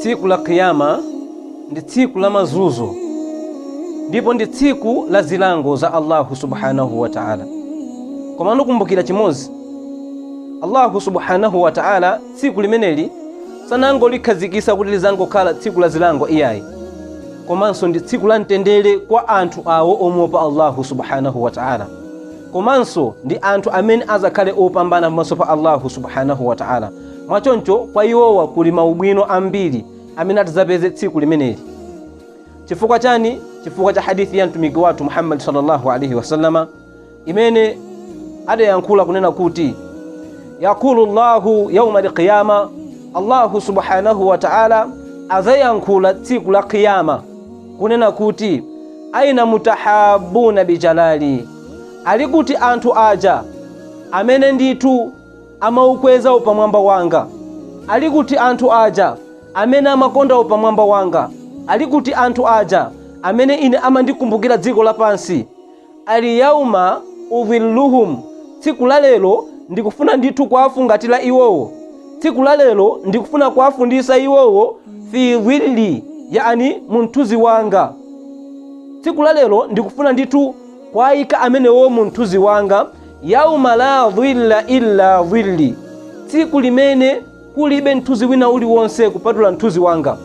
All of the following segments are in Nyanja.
tsiku la kiyama ndi tsiku la mazunzo ndipo ndi tsiku la zilango za allahu subhanahu wa taala komano kukumbukira chimodzi allahu subhanahu wa taala tsiku limeneli sanangolikhazikisa kuti lizangokhala tsiku la zilango iyayi komanso ndi tsiku la mtendere kwa anthu awo omuopa allahu subhanahu wa taala komanso ndi anthu amene azakhale opambana pamaso pa Allahu subhanahu wa ta'ala mwa choncho kwa iwowa kuli maubwino ambiri amene atazapeze tsiku limeneli chifukwa chani chifukwa cha hadithi ya mtumiki wathu Muhammad sallallahu alaihi wasallama imene adayankhula kunena kuti yaqulu llahu yauma alqiyama allahu subhanahu wa ta'ala azayankhula tsiku la qiyama kunena kuti, Aina al-mutahabbuna bi jalali, ali kuti anthu aja amene ndithu amaukweza upamwamba wanga, ali kuti anthu aja amene amakonda upamwamba wanga, ali kuti anthu aja amene ine amandikumbukira dziko lapansi, Al-yawma udhilluhum, Tsiku la lero ndikufuna ndithu kuwafungatira iwowo, tsiku la lero ndikufuna kuwafundisa iwowo, fi dhilli, yaani mu mthunzi wanga, tsiku la lero ndikufuna ndithu kuwaika amenewo mu mthunzi wanga, yauma la dhilla illa dhilli, tsiku limene kulibe mthunzi wina uliwonse kupatula mthunzi wanga,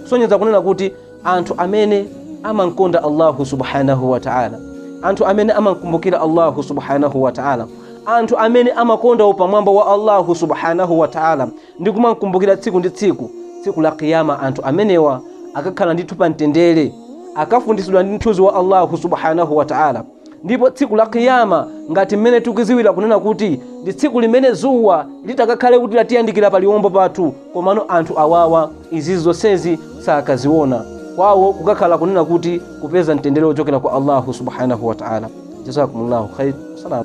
kusonyeza kunena kuti anthu amene amamkonda allahu subhanahu wataala anthu amene amamkumbukira allahu subhanahu wataala anthu amene amakonda upamwamba wa allahu subhanahu wataala ndi kumamkumbukira tsiku ndi tsiku tsiku la kiyama anthu amenewa akakhala ndithu pa mtendere akafunditsidwa ndi mthunzi wa allahu subhanahu wataala ndipo tsiku la kiyama ngati mmene tikuziwira kunena kuti ndi tsiku limene zuwa litakakhale kuti latiyandikira pa liwombo pathu komano anthu awawa izi zonsezi sakaziona kwawo kukakhala kunena kuti kupeza mtendere wochokera kwa allahu subhanahu wa taala jazakumullahu khair salamu